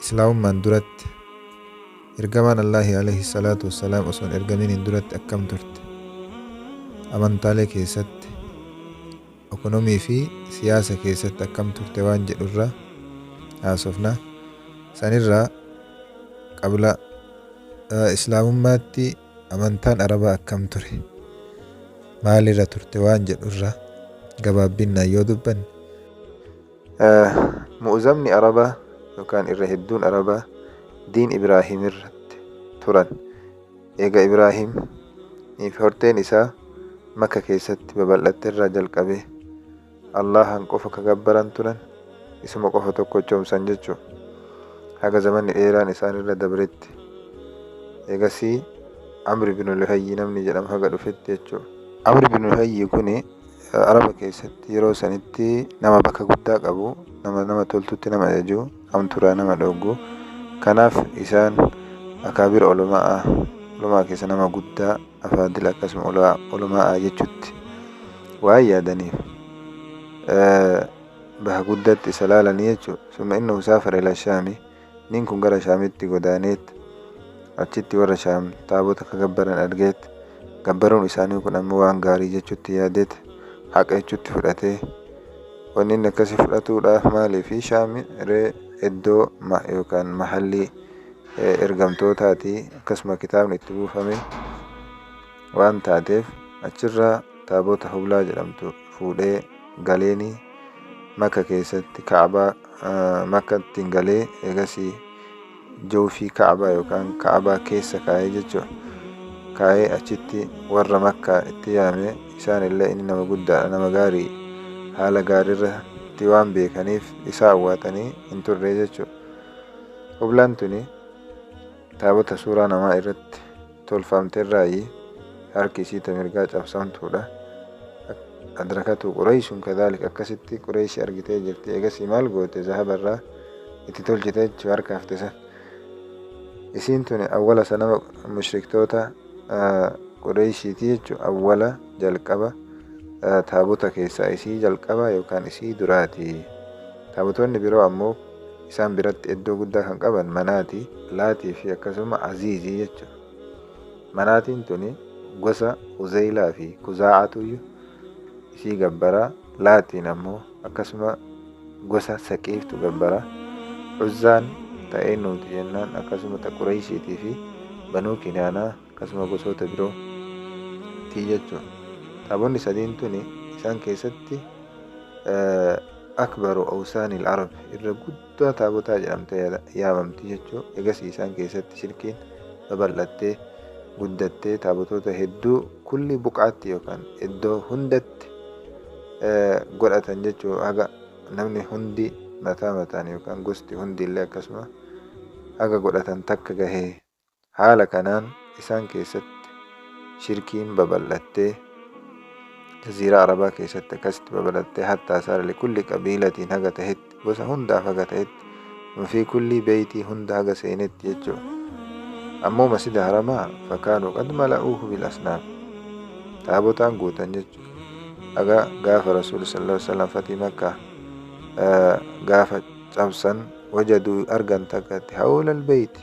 Islaamummaan duratti Ergamaan Allaahi aleyhi salaatu wassalaam osoo hin ergaminiin duratti akkam turte? Amantaalee keessatti, okonomii fi siyaasa keessatti akkam turte waan jedhu irra haasofna. San irraa qabla Islaamummaatti amantaan Arabaa akkam ture? Maalirra turte waan jedhu irra gabaabbinnaan yoo dubbanne, Mu'uzamni Arabaa yookaan irra hedduun Arabaa diin Ibraahim irratti turan. Eega Ibraahim fi horteen isaa Makka keessatti babal'atte irraa jalqabee Allahan qofa ka gabbaran turan isuma qofa tokkochoomsan jechuudha. Haga zamanni dheeraan isaan irra dabretti. Eegasii Amri bin Luhayyi namni jedhamu haga dhufetti jechuudha. Amri bin Luhayyi kuni Araba keessatti yeroo sanitti nama bakka guddaa qabu, nama nama toltutti nama ajaju, hamturaa nama dhoggu. Kanaaf isaan akaabir oloma'a, oloma'a keessa nama guddaa, afaadil akkasuma oloma'a jechutti waan yaadaniif bakka guddatti isa laalanii jechuudha. Summa innahu saafara ila shaami. Nin kun gara Shaamitti godaaneet, achitti warra Shaam taabota ka gabbaran argeet, gabbaruun isaanii kun ammoo waan gaarii jechutti yaadeet, haqa jechutti fudhatee. Wanni inni akkasii fudhatuudhaaf maaliifi Shaami ree iddoo ma yookaan mahallii eh, ergamtootaati akkasuma kitaabni itti buufame waan taateef achirraa taabota hublaa jedhamtu fuudhee galeeni makka keessatti kaabaa makkatti hin galee eegasii jawfii ka'abaa yookaan ka'abaa keessa kaa'ee jechuudha kaa'ee achitti warra makkaa itti yaame isaan illee inni nama guddaadha nama gaarii haala gaariirra itti waan beekaniif isaa awwaatanii hin turre jechuudha hublaan tuni Taabota suuraa namaa irratti tolfamterraayi harki isii ta mirgaa cabsamtuudha. Adrakatu Qureeyshun kadhalik akkasitti Qureeyshi argitee jirti. Eegasii maal goote zahabarraa itti tolchite jechuu harka hafte san. Isiin tuni awwala sanama mushriktoota Qureeyshiiti jechuu awwala jalqaba taabota keessaa isii jalqaba yookaan isii duraati. Taabotonni biroo ammoo Isaan biratti eddoo guddaa kan qaban Manaatii, Laatii fi akkasuma Aziizii jechu. Manaatiin tuni gosa Huzaylaa fi Kuzaa'aatuyyu isii gabbara, Laatiin ammoo akkasuma gosa Saqiiftu gabbara. Uzzaan ta eennuuti jennaan akkasuma ta Qureyshiitii fi Banuu Kinaanaa akkasuma gosoota biroo ti jechu. Taabonni sadiin tuni isaan keessatti akbaru awsaani al-arab irra guddaa taabotaa jedhamte yaamamti jechu. Egasii isaan keessatti shirkiin babal'attee guddattee taabotoota hedduu kulli buqaatti yookaan iddoo hundatti godhatan jechuu haga namni hundi mataa mataan yookaan gosti hundi illee akkasuma haga godhatan takka gahee Haala kanaan isaan keessatti shirkiin babal'attee jaziiraa arabaa keessatti akkasitti babal'attee hattaa saara likulli qabiilatiin haga tahetti gosa hundaaf haga tahetti fi kullii beeytii hunda haga seenetti jechuudha. Ammoo masjida haramaa fakaanuu qad mala'uuhu bil asnaam taabotaan guutan jechuudha. Haga gaafa rasuulli sallallahu alaihi wasallam fatii makkaa gaafa cabsan wajaduu argan takkatti hawlal beeyti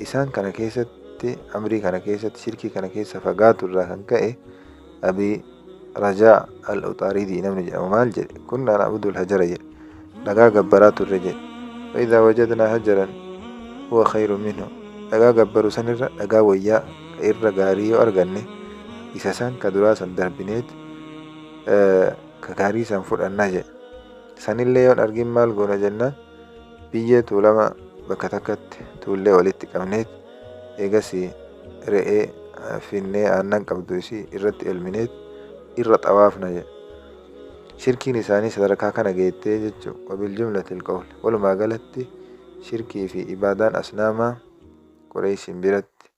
isaan kana keessatti amrii kana keessatti shirkii kana keessa fagaatu irraa kan ka'e abii rajaa al-uxaaridii namni jedhamu maal jedhe kunnaan abdul hajara jedhe dhagaa gabbaraa turre jedhe fa'idaa wajadnaa hajaran huwa khayru minhu dhagaa gabbaru sanirra dhagaa wayyaa irra gaarii yoo arganne isa san ka duraa san darbineet ka gaarii san fudhannaa jedhe sanillee yoon argin maal goona jennaan Biyyee Tuulamaa bakka takkatti tuullee walitti qabneet eegasii re'ee finnee aannan qabdu isii irratti elmineet irra xawaafna jedhe. Shirkiin isaanii sadarkaa kana geettee jechu wabiljumlatil qawli. Walumaa galatti shirkii fi ibaadaan asnaamaa Qureeshiin biratti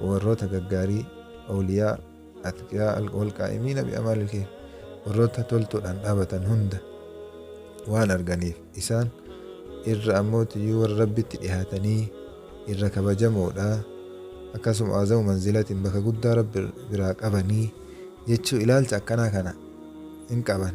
Warroota gaggaarii, awliyaa, atqiyaa, wal qaa'imiina bi amaalil kheyr, warroota toltuudhaan dhaabatan hunda waan arganiif, isaan irra ammoo tiyyuu warra Rabbitti dhihaatanii irra kabajamoodha, akkasuma a'zamu manzilatin bakka guddaa Rabbi biraa qabanii jechuu ilaalcha akkanaa kana hin qaban.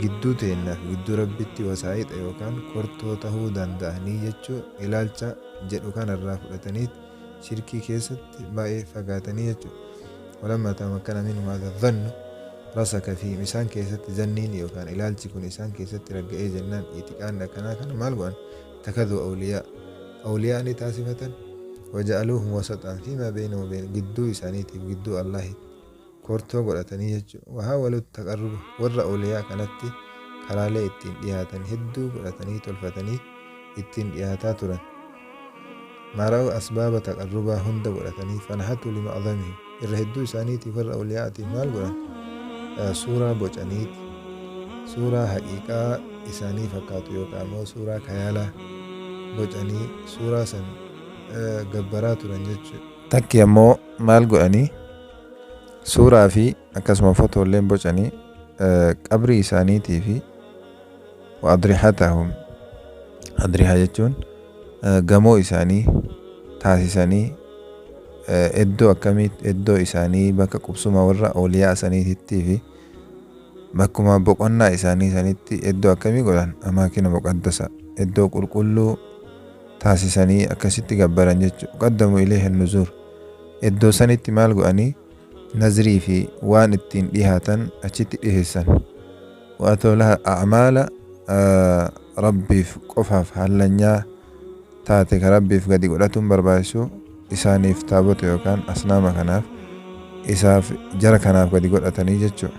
Gidduu teenna fi gidduu Rabbiitti wasaayixa yookaan kortoo tahuu danda'anii jechuu ilaalcha jedhu kana irraa fudhataniit shirkii keessatti baay'ee fagaatanii jechuudha. Walammaa tamakkana minhum haadha dhannu rasaka fiihim isaan keessatti zanniin yookaan ilaalchi kun isaan keessatti ragga'ee jennaan itiqaanni akkanaa kana maal godhan takaduu awliyaa awliyaa ni taasifatan waja'aluuhum wasaxaan fiimaa beeyna wabeen gidduu isaaniitiif gidduu Allaahitti kortoo godhatanii jechu. Wahaawalut taqarruba warra awliyaa kanatti karaalee ittiin dhiyaatan hedduu godhatanii tolfatanii ittiin dhiyaataa turan. Maara'u asbaaba taqarrubaa hunda godhatanii fanahatu lima'azamihi irra hedduu isaaniitiif warra awliyaatiif maal godhan? Suuraa bocaniiti. Suuraa haqiiqaa isaanii fakkaatu yookaan immoo suuraa kayaalaa bocanii suuraa san gabbaraa turan jechuudha. Takki ammoo maal godhanii? suuraa fi akkasuma fotoolleen bocanii qabrii isaaniitii fi adrihatahum adrihaa jechuun gamoo isaanii taasisanii iddoo akkamii iddoo isaanii bakka qubsuma warra ooliyaa saniitittii fi bakkuma boqonnaa isaanii sanitti iddoo akkamii godhan amaakina muqaddasa iddoo qulqulluu taasisanii akkasitti gabbaran jechuudha qaddamu ilee hin nuzuur Eddoo sanitti maal go'anii? Nazrii fi waan ittiin dhihaatan achitti dhiheessan. Wa'atoolaha a'maala rabbiif qofaaf hallanyaa taate ka rabbiif gadi godhatuun barbaachisu isaaniif taabota yookaan asnaama kanaaf isaaf jara kanaaf gadi godhatanii jechuudha.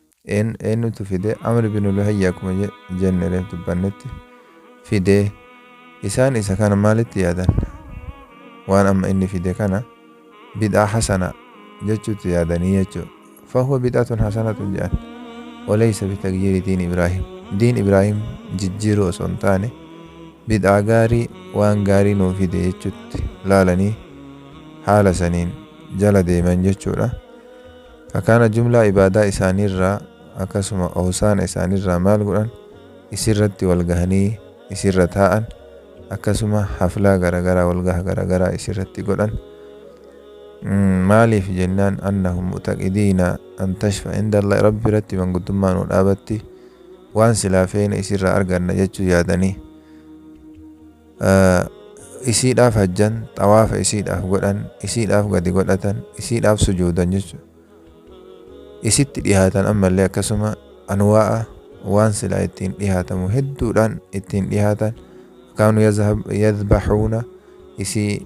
Een, eenyutu fide? Amr bin Luhayy akkuma je- jenne reef dubbannetti fide. Isaan isa kana maalitti yaadan? Waan amma inni fide kana bid'aa hasana jechuutti yaadanii jechuu. Fahuwa bid'atun hasanatun jedhan. Oleysa bitagyiiri diin Ibraahim. Diin Ibraahim jijjiiruu osoo hin taane bid'aa gaarii waan gaarii nuu fide jechuutti laalanii haala saniin jala deeman jechuudha. Akana jumlaa ibaadaa isaaniirraa akkasuma ohsaana isaaniirraa maal godhan? Isirratti wal gahanii isirra taa'an, akkasuma haflaa garagaraa walgaha garagaraa isirratti godhan. Maaliif jennaan annahum mu'taqidiina an tashfa indallah rabbi irratti manguddummaa nu dhaabatti waan silaa feene isirraa arganna jechuu yaadanii. isiidhaaf hajjan, xawaafa isiidhaaf godhan, isiidhaaf gadi godhatan, isiidhaaf sujuudan jechu. Isitti dhihaatan ammallee akkasuma anwaa'a waan silaa ittiin dhihaatamu hedduudhaan ittiin dhihaatan kaanu yadhbahuuna isii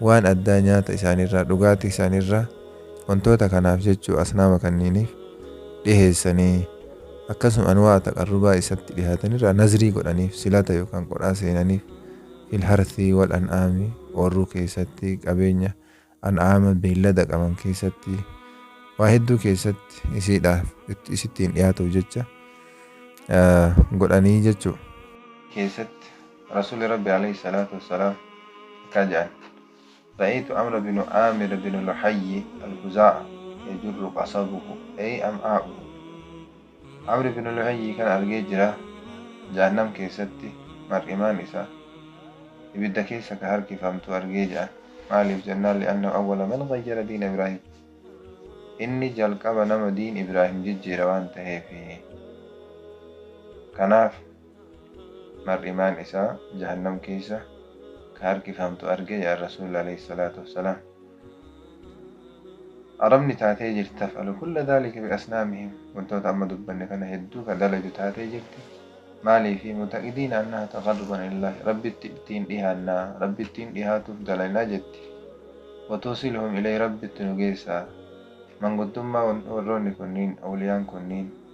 waan addaa nyaata isaaniirraa, dhugaatii isaaniirraa, wantoota kanaaf jechuu asnaama kanniiniif dhiheessanii, akkasuma anwaa'a taqarrubaa isatti dhihaatanirraa nazrii godhaniif, silata yookaan qodhaa seenaniif, fil harthii wal an'aami, oorruu keessatti, qabeenya an'aama beellada qaban keessatti, waa hedduu keessatti isiidhaaf itti- isittiin dhihaatuuf jecha ah, godhanii jechuu. keessatti Rasuulli Rabbii aleyhi salaatu wa salaam akkaa ja'an, Ra'eytu Amra binu Aamir binu Luhayyi Al-Khuzaa'a yajurru qasabuhu ay am'aa'uhu, Amri binu Luhayyii kana argee jira, Jahannam keessatti mar'imaan isaa ibidda keessa ka harkifamtu argee ja'an. Maaliif jennaan li'annahu awwala man ghayyara diina Ibraahiim, inni jalqaba nama diin Ibraahiim jijjiire waan taheefi. Kanaaf. mar'imaan isaa jahannam keessa ka harkifamtu arge ya Rasuul aleyh salaatu wassalaam Arabni taatee jirti taf'alu kulla dhaalika bi asnaamihim wantoota amma dubbanne kana hedduu ka dalaydu taatee jirti maaliifi mutaqidiina annaha taqarruban ilallaahi Rabbitti ittiin dhihaannaa Rabbi ittiin dhihaatuuf dalaynaa jetti wa tuusiluhum ileyh Rabbitti nu geessaa manguddummaa warroonni kunniin awliyaan kunniin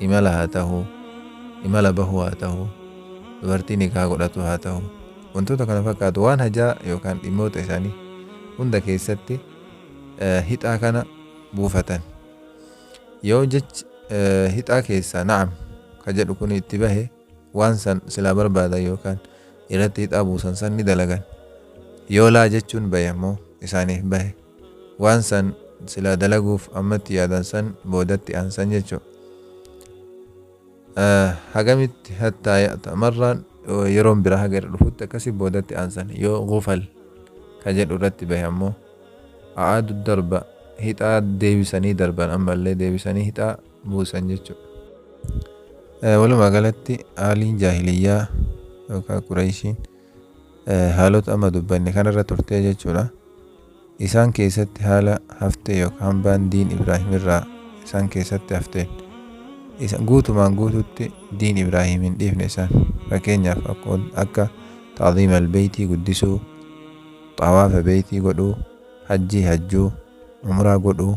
imala haa tahu, imala bahuu haa tahu, dubartii nikaha godhatu haa tahu, wantoota kana fakkaatu waan hajaa yookaan dhimmoota isaanii hunda keessatti hixaa kana buufatan. Yoo jechi hixaa keessaa na'am ka jedhu kun itti bahe waan san silaa barbaadan yookaan irratti hidhaa buusan san ni dalagan. Yoo laa jechuun bahe ammoo isaaniif bahe. Waan san silaa dalaguuf amma itti yaadan san boodatti aansan jechu. Hagamitti hattaa ya'ta marraan yeroon biraa haga irra dhufutti akkasi boodatti aansan. Yoo gufal ka jedhu irratti bahe ammoo a'aadu darba hixaa deebisanii darban ammallee deebisanii hixaa buusan jechuudha. Eh, Walumaa galatti haaliin jaahiliyyaa yookaan Qureeshiin eh, haalota amma dubbanne kanarra turtee jechuudha. Isaan keessatti haala haftee yookaan hambaan diin Ibraahim irraa isaan keessatti hafteen isa guutumaan guututti diin Ibraahim hin dhiifne isaan fakkeenyaaf akko- akka taaziima albeeytii guddisuu xawaafa beeytii godhuu hajjii hajjuu umraa godhuu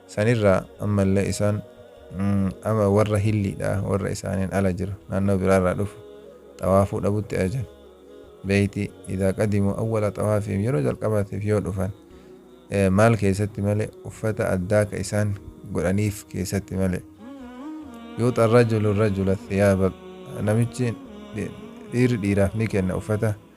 sanirraa ammallee isaan ama warra hilliidha warra isaaniin ala jiru naannoo biraarraa dhufu xawaafuu dhabutti ajajan beeyti idaa qadimuu awwala xawaafiim yeroo jalqabaatiif yoo dhufan maal keessatti malee uffata addaa ka isaan godhaniif keessatti malee yuuxa rajulu rajula thiyaaba namichi dhiirri dhiiraaf ni kenna uffata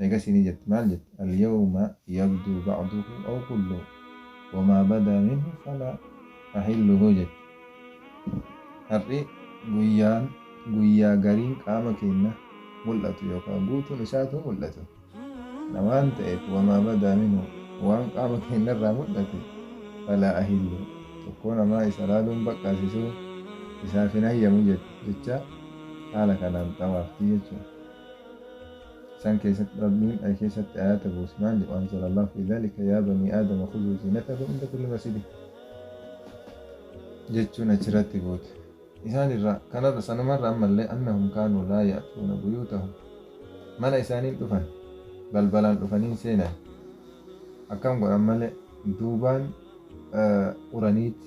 Eegasii ni jetti, maal jetti? Al-yawma yabduu ba'duhu aw kulluhu, wa maa badaa minhu falaa ahilluhu jetti. Har'i guyyaan guyyaa gariin qaama keenya mul'atu yookaa guutuun isaatuu mul'atu dha waan ta'eef, wa maa badaa minhu, waan qaama keenya irraa mul'ate, falaa ahilluhu, tokkoo namaa isa laaluun baqqaasisuu isaaf hin hayyamu jetti. Jecha haala kanaan xawaafti jechuudha. San keessatti Rabbiin ay keessatti aayaata buuse. Maali? Wa anzala Allaahu fii dhaalika yaa banii aadama khuzuu ziinatakum inda kulli masjidin jechuun achirratti buute. Isaan irraa kanarra sanumarra ammallee annahum kaanuu laa ya'tuuna buyuutahum mana isaaniin dhufan balbalaan dhufaniin seenan akkam godhan malee duubaan uraniiti.